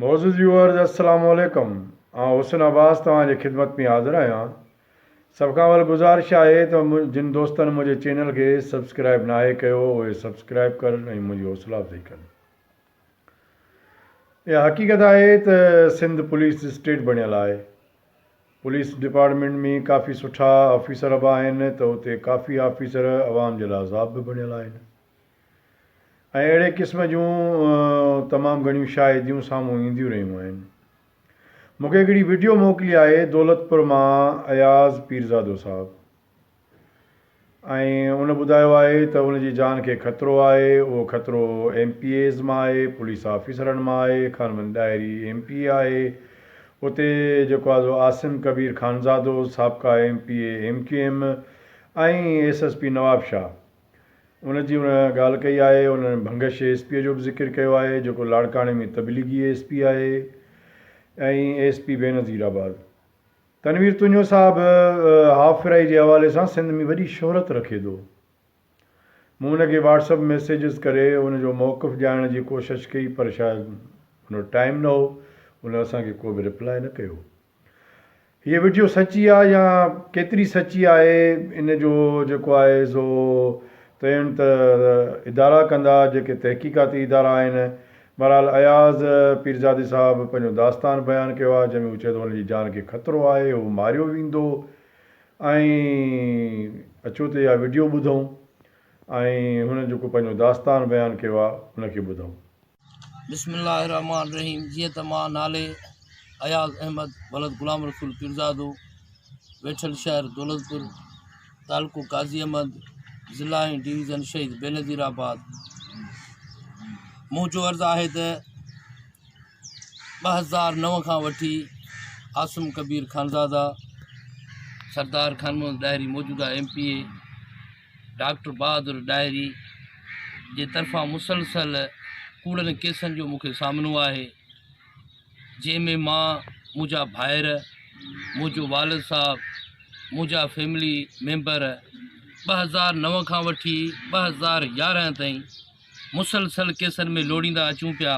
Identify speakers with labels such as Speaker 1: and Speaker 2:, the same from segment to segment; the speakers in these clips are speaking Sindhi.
Speaker 1: معزز ويوئرز السلام عليڪم آئون حسن عباس توهان جي خدمت ۾ حاضر آهيان سڀ کان اول گذارش آهي ته جن دوستن منهنجي چينل کي سبسڪرائب ناهي ڪيو اهي سبسڪرائب ڪرن ۽ منهنجي حوصلا افزائي ڪن اها حقيقت آهي ته سنڌ پوليس اسٽيٽ بڻيل آهي پوليس ڊپارٽمينٽ ۾ ڪافي سٺا آفيسر به آهن ته اتي ڪافي آفيسر عوام جي لاء عذاب به بڻيل آهن ۽ اهڙي قسم جون تمام گهڻيون شاهديون سامهون اينديون رهيون آهن. مون کي هڪڙي وڊيو موڪلي آهي دولتپور مان اياز پيرزادو صاحب ۽ ان ٻڌايو آهي ته ان جي جان کي خطرو آهي اهو خطرو ايم پي ايز مان آهي پوليس آفيسرن مان آهي خانمند ڏاهري ايم پي اي آهي اتي جيڪو آزو عاصم ڪبير خانزادو سابقا M P A M Q M ۽ S S P Nawab Shah ان جي ان ڳالهه ڪئي آهي. انهن ڀنگش ايس پيء جو به ذڪر ڪيو آهي، جيڪو لاڙڪاڻي ۾ تبليغي ايس پي آهي ۽ S P Benazirabad. Tanveer Tunio صاحب هاف فرائي جي حوالي سان سنڌ ۾ وڏي شهرت رکي ٿو. مون ان کي واٽس اپ ميسيجز ڪري ان جو موقف ڄاڻڻ جي ڪوشش ڪئي پر شايد ان وٽ ٽائيم نه هو. ان اسان کي ڪو به رپلائي نه ڪيو. هيء وڊيو سچي آ يا ڪيتري سچي آهي ان جو جيڪو آهي سو تعين ته ادارا ڪندا جيڪي تحقيقاتي ادارا آهن. بهرحال اياز پيرزادي صاحب پنهنجو داستان بيان ڪيو آهي جنهن ۾ هو چئي ٿو هن جي جان کي خطرو آهي هو ماريو ويندو ۽ اچو ته اها وڊيو ٻڌون ۽ هن جيڪو پنهنجو داستان بيان ڪيو آهي ان کي ٻڌون. بسم الله الرحمٰن
Speaker 2: الرحيم جيئن ته مان نالي اياز احمد ولد غلام رسول پيرزادو ويٺل شهر دولتپور تعلقو قاضي احمد ضلع ۽ ڊويزن شهيد بينظير آباد منهنجو عرض آهي ته ٻه هزار نو کان وٺي عاصم ڪبير خانزاده سردار خان محمد ڏاهري موجوده M P A doctor Bahadur Dahri جي طرفان مسلسل ڪوڙن ڪيسن جو مون کي سامنو آهي جنهن ۾ مان منهنجا ڀائر منهنجو والد صاحب منهنجا فيملي ميمبر ٻه هزار نو کان وٺي ٻه هزار يارهن تائين مسلسل ڪيسن ۾ لوڙيندا اچون پيا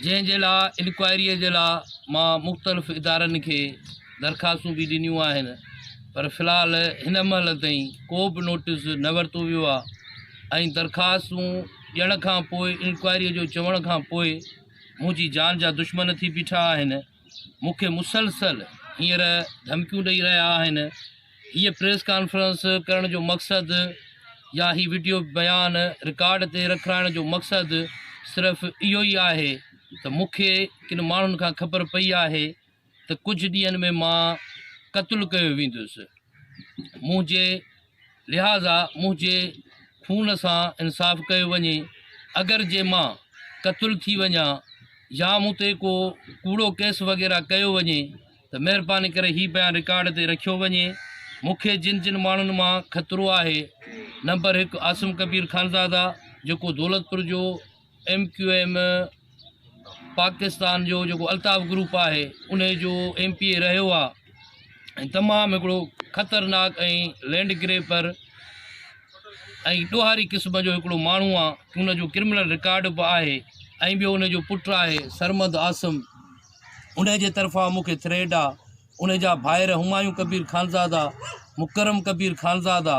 Speaker 2: جنهن جي لاء انڪوائري جي لاء مان مختلف ادارن کي درخواستون به ڏنيون آهن پر في الحال هن مهل تائين ڪو به نوٽيس نه ورتو ويو آهي ۽ درخواستون ڏيڻ کان پوء انڪوائري جو چوڻ کان پوء منهنجي جان جا دشمن ٿي بيٺا آهن مون کي مسلسل هينئر ڌمڪيون ڏئي رهيا آهن هيء پريس ڪانفرنس ڪرڻ جو مقصد يا هي وڊيو بيان رڪارڊ تي رکرائڻ جو مقصد صرف اهو ئي آهي ته مون کي ڪن ماڻهن کان خبر پئي آهي ته ڪجهه ڏينهن ۾ مان قتل ڪيو ويندس منهنجي لهٰذا منهنجي خون سان انصاف ڪيو وڃي، اگر جي مان قتل ٿي وڃان يا مون تي ڪو ڪوڙو ڪيس وغيره ڪيو وڃي ته مهرباني ڪري هي بيان رڪارڊ تي رکيو وڃي، مون کي جن جن ماڻهن مان خطرو آهي، نمبر هڪ عاصم ڪبير خانزاده جيڪو دولتپور جو. ايم ڪيو ايم پاڪستان جو جيڪو الطاف گروپ آهي ان جو ايم پي اي رهيو آهي ۽ تمام هڪڙو خطرناڪ ۽ لينڊ گريپر ۽ ڏوهاري قسم جو هڪڙو ماڻهو آهي ان جو ڪرمنل رڪارڊ به آهي ۽ ٻيو ان جو پٽ آهي سرمد عاصم ان جي طرفان مونکي ٿريڊ آهي ان جا ڀائر همايون ڪبير خانزادا مڪرم ڪبير خانزادا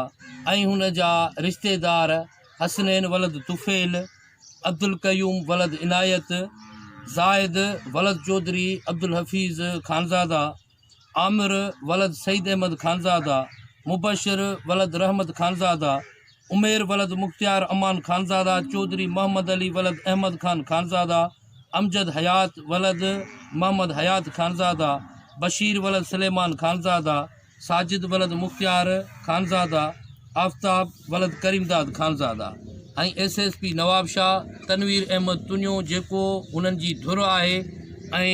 Speaker 2: ۽ هن جا رشتيدار حسنين ولد طفيل، عبدالقيوم ولد عنايت، زاهد ولد چوڌري عبدالحفيظ خانزاده، عامر ولد سعيد احمد خانزاده، مبشر ولد رحمت خانزاده، عمير ولد مختيار امان خانزاده، چوڌري محمد علي ولد احمد خان خانزاده، امجد حيات ولد محمد حيات خانزاده، بشير ولد سليمان خانزاده، ساجد ولد مختيار خانزاده، آفتاب ولد Karimdad Khanzada ۽ S S P Nawabshah Tanveer Ahmed Tunio جيڪو هنن جي ڌر آهي ۽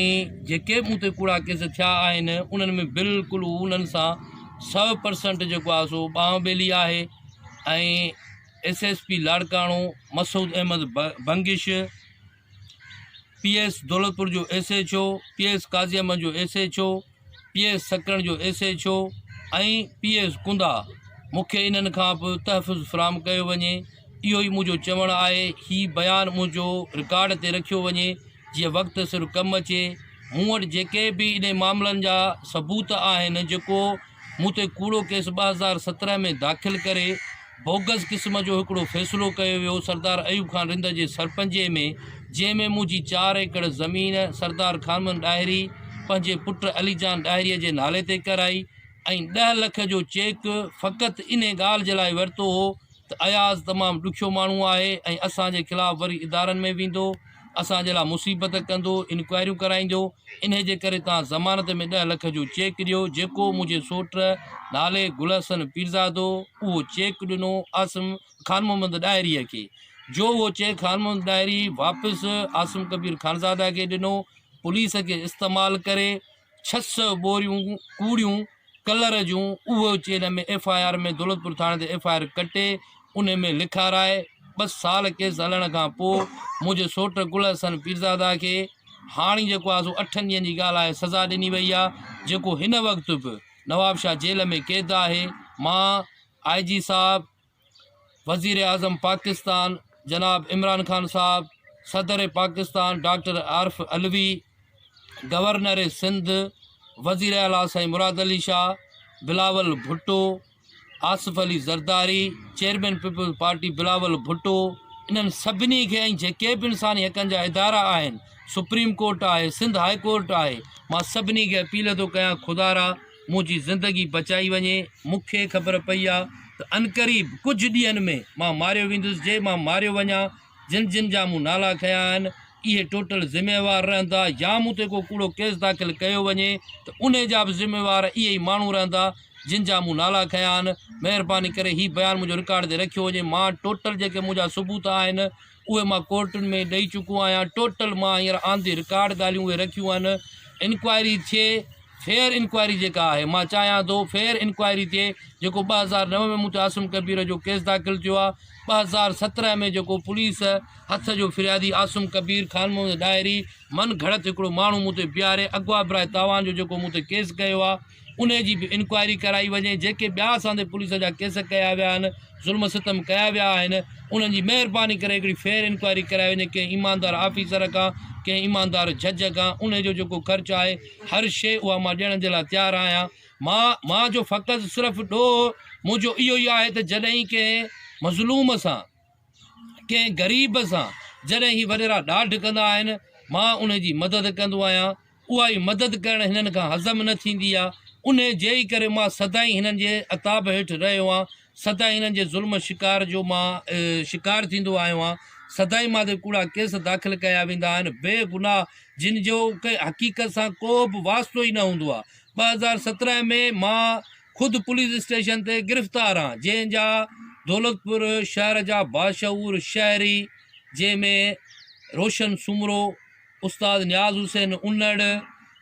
Speaker 2: جيڪي به مون تي ڪوڙا ڪيس ٿيا آهن انهن ۾ بلڪل هو انهن سان سو پرسنٽ جيڪو آهي سو ٻانهن ٻيلي آهي ۽ S S P Larkana Masood Ahmed Bangash P S Daulatpur جو S H O, P S Qazi Ahmed جو S H O, P S Sakrand جو S H O ۽ P S ڪندا مون کي انهن کان به تحفظ فراهم ڪيو وڃي اهو ئي منهنجو چوڻ آهي هي بيان منهنجو رڪارڊ تي رکيو وڃي جيئن وقت سر ڪم اچي مون وٽ جيڪي به انهن معاملن جا ثبوت آهن جيڪو مون تي ڪوڙو ڪيس ٻه هزار سترهن ۾ داخل ڪري بوگس قسم جو هڪڙو فيصلو ڪيو ويو سردار ايوب خان رند جي سرپنجي ۾ جنهن ۾ منهنجي چار ايڪڙ زمين سردار خانمن ڏاهري پنهنجي پٽ علي جان ڏاهري جي نالي تي ڪرائي ۽ ڏهه لک جو چيڪ فقط انهي ڳالهه جي لاء ورتو هو ته اياز تمام ڏکيو ماڻهو آهي ۽ اسان جي خلاف وري ادارن ۾ ويندو اسان جي لاء مصيبت ڪندو، انڪوائريون ڪرائيندو، انهيء جي ڪري توهان ضمانت ۾ ڏهه لک جو چيڪ ڏيو، جيڪو منهنجي سوٽ نالي گل حسن پيرزادو اهو چيڪ ڏنو عاصم خان محمد ڏاهريء کي، جو اهو چيڪ خان محمد ڏاهري واپس عاصم ڪبير خانزاده کي ڏنو، پوليس کي استعمال ڪري، ڇهه سئو ٻوريون ڪوڙيون ڪلر جون اهو اچي ان ۾ ايف آء آر ۾ دولتپور ٿاڻي تي ايف آء آر ڪٽي ان ۾ لکارائي ٻه سال ڪيس هلڻ کان پوء منهنجي سوٽ گل حسن پيرزاده کي هاڻي جيڪو آهي سو اٺن ڏينهن جي ڳالهه آهي سزا ڏني وئي آهي جيڪو هن وقت به نوابشاهه جيل ۾ قيد آهي مان آء جي صاحب وزيراعظم پاڪستان جناب عمران خان صاحب، صدر پاڪستان ڊاڪٽر عارف علوي، گورنر سنڌ، وزير اعلٰي سائين Murad Ali Shah, Bilawal Bhutto, Asif Ali Zardari, chairman peoples party Bilawal Bhutto انهن سڀني کي ۽ جيڪي به انساني حقن جا ادارا آهن، سپريم ڪورٽ آهي، سنڌ هاء ڪورٽ آهي، مان سڀني کي اپيل ٿو ڪيان خدارا منهنجي زندگي بچائي وڃي، مون کي خبر پئي آ ته عنقريب ڪجهه ڏينهن ۾ مان ماريو ويندس، جي مان ماريو وڃان، جن جن جا مون نالا کنيا آهن، اهي ٽوٽل ذميوار رهندا يا مون تي ڪو ڪوڙو ڪيس داخل ڪيو وڃي ته انهي جا به ذميوار اهي ئي ماڻهو رهندا جن جا مون نالا کنيا آهن، مهرباني ڪري هي بيان منهنجو رڪارڊ تي رکيو وڃي، مان ٽوٽل جيڪي منهنجا ثبوت آهن. اهي مان ڪورٽن ۾ ڏئي چڪو آهيان ٽوٽل مان هينئر آن دي رڪارڊ ڳالهيون اهي رکيون آهن انڪوائري ٿئي فيئر انڪوائري جيڪا آهي مان چاهيان ٿو فيئر انڪوائري ٿئي جيڪو ٻه هزار نو ۾ مون تي عاصم ڪبير جو ڪيس داخل ٿيو آهي ٻه هزار سترهن ۾ جيڪو پوليس هٿ جو فريادي عاصم ڪبير خان محمد ڏاهري من گهڙت هڪڙو ماڻهو مون تي بيهاري اغوا براء تاوان جو جيڪو مون تي ڪيس ڪيو آهي انهي جي به انڪوائري ڪرائي وڃي، جيڪي ٻيا اسان تي پوليس جا ڪيس ڪيا ويا آهن، ظلم ستم ڪيا ويا آهن، انهن جي مهرباني ڪري هڪڙي فيئر انڪوائري ڪرائي وڃي، ڪنهن ايماندار آفيسر کان، ڪنهن ايماندار جج کان، انهي جو جيڪو خرچ آهي، هر شيء اها مان ڏيڻ جي لاء تيار آهيان، مان مان جو فقط صرف ڏوهه منهنجو اهو ئي آهي ته جڏهن ڪنهن مظلوم سان. ڪنهن غريب سان جڏهن هي وڏيرا ڏاڍ ڪندا آهن، مان ان جي مدد ڪندو آهيان. اها ئي مدد ڪرڻ هنن کان هضم نه ٿيندي آهي. انهيء جي ئي ڪري مان سدائين هنن جي عتاب هيٺ رهيو آهيان. سدائين هنن جي ظلم شڪار جو مان شڪار ٿيندو آيو آهيان. سدائين مان تي ڪوڙا ڪيس داخل ڪيا ويندا آهن، بي گناهه جن جو ڪنهن حقيقت سان ڪو به واسطو ئي نه هوندو آهي. ٻه هزار سترهن ۾ مان خود پوليس اسٽيشن تي گرفتار آن جنهن جا دولتپور شهر جا باشعور شهري جنهن ۾ روشن سومرو، استاد نياز حسين انڙ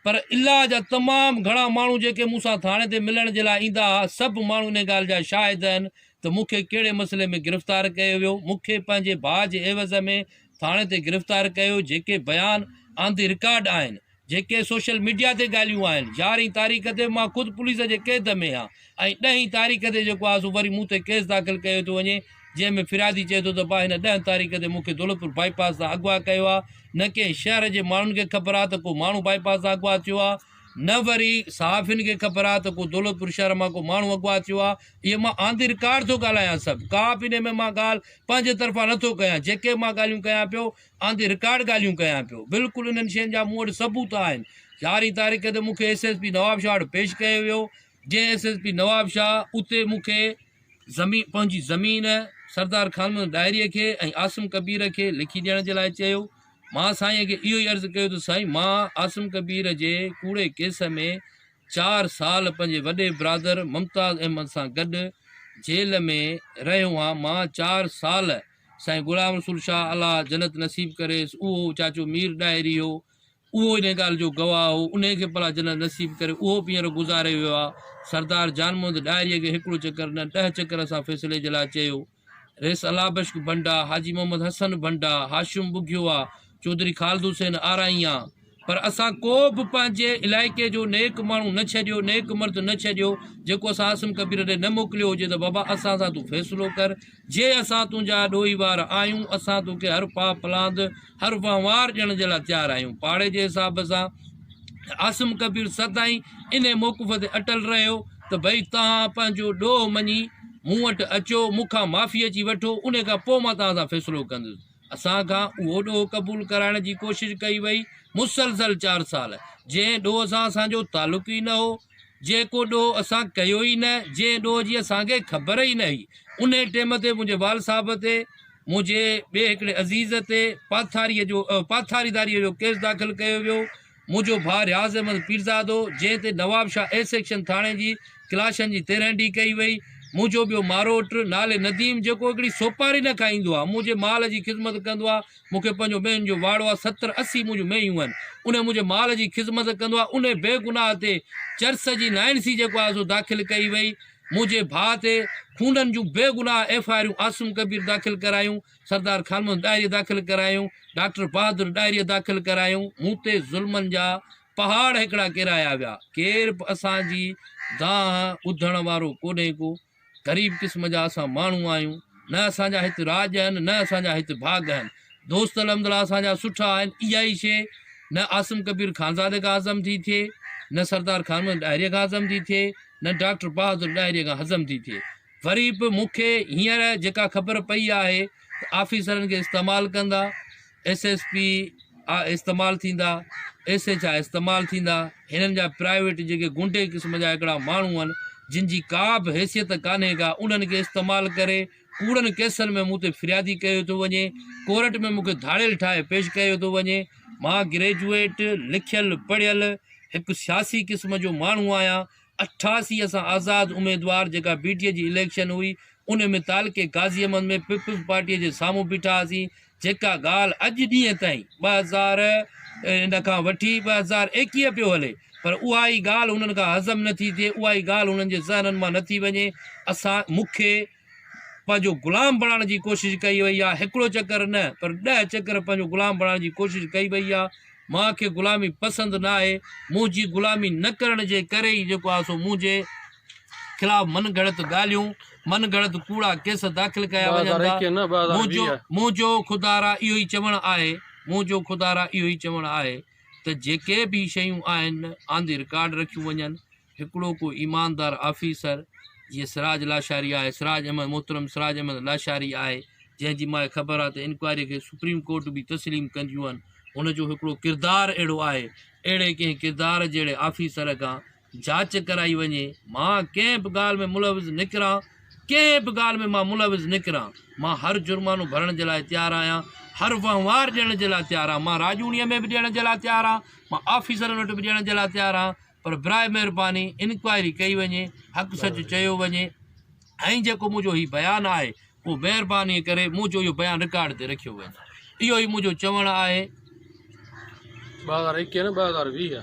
Speaker 2: پر الا جا تمام گهڻا ماڻهو جيڪي مون سان ٿاڻي تي ملڻ جي لاء ايندا ها سڀ ماڻهو ان ڳالهه جا شاهد هن ته مون کي ڪهڙي مسئلي ۾ گرفتار ڪيو ويو مون کي پنهنجي ڀاء جي عيوض ۾ ٿاڻي تي گرفتار ڪيو جيڪي بيان آن دي رڪارڊ آهن جيڪي سوشل ميڊيا تي ڳالهيون آهن، يارهين تاريخ تي به مان خود پوليس جي قيد ۾ هان ۽ ڏهين تاريخ تي جيڪو آهي سو وري مون تي ڪيس داخل ڪيو ٿو وڃي جنهن ۾ فريادي چئي ٿو ته ڀا هن ڏهن تاريخ تي مون کي دولتپور بائي پاس تان اغوا ڪيو آهي نه ڪنهن شهر جي ماڻهن کي خبر آهي ته ڪو ماڻهو بائي پاس تان اغوا ٿيو آهي نه وري صحافين کي خبر آهي ته ڪو دولتپور شهر مان ڪو ماڻهو اغوا ٿيو آهي اهي مان آندي رڪارڊ ٿو ڳالهايان سڀ ڪا به ان ۾ مان ڳالهه پنهنجي طرفان نٿو ڪيان جيڪي مان ڳالهيون ڪيان پيو آندي رڪارڊ ڳالهيون ڪيان پيو، بلڪل انهن شين جا مون وٽ ثبوت آهن، يارهين تاريخ تي مون کي ايس ايس پي نوابشاهه وٽ پيش ڪيو ويو، جنهن ايس ايس پي نوابشاهه اتي مون کي زمين پنهنجي زمين سردار خانمحمد ڏاهري کي ۽ عاصم ڪبير کي لکي ڏيڻ جي لاء چيو، مان سائين کي اهو ئي عرض ڪيو ته سائين مان عاصم ڪبير جي ڪوڙي ڪيس ۾ چار سال پنهنجي وڏي برادر ممتاز احمد سان گڏ جيل ۾ رهيو هان، مان چار سال سائين غلام رسول شاهه الله جنت نصيب ڪريس اهو چاچو مير ڏاهري هو اهو انهي ڳالهه جو گواهه هو انهي کي پلا جنت نصيب ڪري اهو به هينئر گذاري ويو آهي سردار جان محمد ڏاهري کي هڪڙو چڪر نه ڏهه چڪر اسان فيصلي جي لاء چيو ريس الله بشڪ ڀنڊا حاجي محمد حسن ڀنڊا هاشم ٻگهيو آ چوڌري خالد حسين آرائيان پر اسان ڪو به پنهنجي علائقي جو نيڪ ماڻهو نه ڇڏيو نيڪ مرد نه ڇڏيو جيڪو اسان عاصم ڪبير ڏي نه موڪليو هجي ته بابا اسان سان تون فيصلو ڪر جي اسان تنهنجا ڏوهي وار آهيون اسان توکي هر پاء پلاند هر وهنوار ڏيڻ جي لاء تيار آهيون پاڙي جي حساب سان عاصم ڪبير سدائين ان موقف تي اٽل رهيو ته ڀئي توهان پنهنجو ڏوهه مڃي مون وٽ اچو مون کان معافي اچي وٺو ان کان پوء مان توهان سان فيصلو ڪندس اسان کان اهو ڏوهه قبول ڪرائڻ جي ڪوشش ڪئي وئي. مسلسل چار سال جنهن ڏوهه سان اسان جو تعلق ئي نه هو، جيڪو ڏوهه اسان ڪيو ئي نه، جنهن ڏوهه جي اسان کي خبر ئي نه هئي، انهي ٽيم تي منهنجي وال صاحب تي منهنجي ٻئي هڪڙي عزيز تي پاٿاريء جو پاٿاريداريء جو ڪيس داخل ڪيو ويو. منهنجو ڀاء رياض احمد پيرزادو جنهن تي نوابشاهه اي سيڪشن ٿاڻي جي ڪلاشن جي تيرهن ڊي ڪئي وئي. منهنجو ٻيو ماروٽ نالي نديم جيڪو هڪڙي سوپاري نه کائيندو آهي منهنجي مال جي خذمت ڪندو آهي مون کي پنهنجو مينهن جو واڙو آهي ستر اسي منهنجون مينهيون آهن انهي منهنجي مال جي خذمت ڪندو آهي انهي بي گناهه تي چرس جي نائن سي جيڪو آهي سو داخل ڪئي وئي منهنجي ڀاء تي خونن جون بي گناهه ايف آئرون عاصم ڪبير داخل ڪرايون سردار خانمحمد ڏاهريء داخل ڪرايون، ڊاڪٽر بهادر ڏاهريء داخل ڪرايون، مون تي ظلمن جا پهاڙ هڪڙا ڪيرايا ويا، ڪير به اسان جي دانهن ٻڌڻ وارو ڪونهي ڪو، غريب قسم جا اسان ماڻهو آهيون، نه اسان جا هت راڄ آهن، نه اسان جا هت ڀاڳ آهن، دوست الحمدلله اسان جا سٺا آهن، اها ئي شيء نه عاصم ڪبير خانزادي کان هضم ٿي ٿئي، نه سردار خانمحمد ڏاهريء کان هضم ٿي ٿئي، نه ڊاڪٽر بهادر ڏاهريء کان هضم ٿي ٿئي، وري به مون کي هينئر جيڪا خبر پئي آهي ته آفيسرن کي استعمال ڪندا ايس ايس پي استعمال ٿيندا ايس ايچ آء استعمال ٿيندا هنن جا پرائيويٽ جيڪي گونڊي قسم جا هڪڙا ماڻهو آهن جن جي ڪا به حيثيت ڪانهي ڪا انهن کي استعمال ڪري ڪوڙن ڪيسن ۾ مون تي فريادي ڪيو ٿو وڃي ڪورٽ ۾ مونکي ڌاڙيل ٺاهي پيش ڪيو ٿو وڃي مان گريجويٽ لکيل پڙهيل هڪ سياسي قسم جو ماڻهو آهيان اٺاسي سان آزاد اميدوار جيڪا بي ٽي اي جي اليڪشن هئي ان ۾ تعلقي غازي احمد ۾ پيپلز پارٽي جي سامهون بيٺا هئاسين جيڪا ڳالهه اڄ ڏينهن تائين ٻه هزار ان کان وٺي ٻه هزار ايڪيهه پيو هلي پر اها ئي ڳالهه هنن کان هضم نٿي ٿئي اها ئي ڳالهه هنن جي ذهنن مان نٿي وڃي اسان مونکي پنهنجو غلام بڻائڻ جي ڪوشش ڪئي وئي آهي هڪڙو چڪر نه پر ڏهه چڪر پنهنجو غلام بڻائڻ جي ڪوشش ڪئي وئي آهي مان کي غلامي پسند نه آهي منهنجي غلامي نه ڪرڻ جي ڪري ئي جيڪو آهي سو منهنجي خلاف من گهڙت ڳالهيون من گهڙت ڪوڙا ڪيس داخل ڪيا وڃن ٿا منهنجو منهنجو خدارا اهو ئي چوڻ آهي منهنجو خدارا اهو ئي چوڻ آهي ته جيڪي به شيون آهن آن دي رڪارڊ رکيون وڃن هڪڙو ڪو ايماندار آفيسر جيئن سراج لاشاري آهي، سراج احمد، محترم سراج احمد لاشاري آهي، جنهن جي ماء خبر آهي ته انڪوائري کي سپريم ڪورٽ به تسليم ڪنديون آهن، هن جو هڪڙو ڪردار اهڙو آهي، اهڙي ڪنهن ڪردار جهڙي آفيسر کان جاچ ڪرائي وڃي، مان ڪنهن به ڳالهه ۾ ملوث نڪران، ڪنهن به ڳالهه ۾ مان ملوث نڪران، مان هر جرمانو ڀرڻ جي لاء تيار آهيان، هر وهنوار ڏيڻ جي لاء تيار آهيان، مان راڄوڻيء ۾ به ڏيڻ جي لاء تيار آهيان، مان آفيسرن وٽ به ڏيڻ جي لاء تيار آهيان. پر براء مهرباني انڪوائري ڪئي وڃي حق سچ چيو وڃي ۽ جيڪو منهنجو هي بيان آهي اهو مهرباني ڪري منهنجو اهو بيان رڪارڊ تي رکيو وڃي اهو ئي منهنجو چوڻ آهي ٻه هزار ايڪيهه نه ٻه
Speaker 3: هزار
Speaker 2: ويهه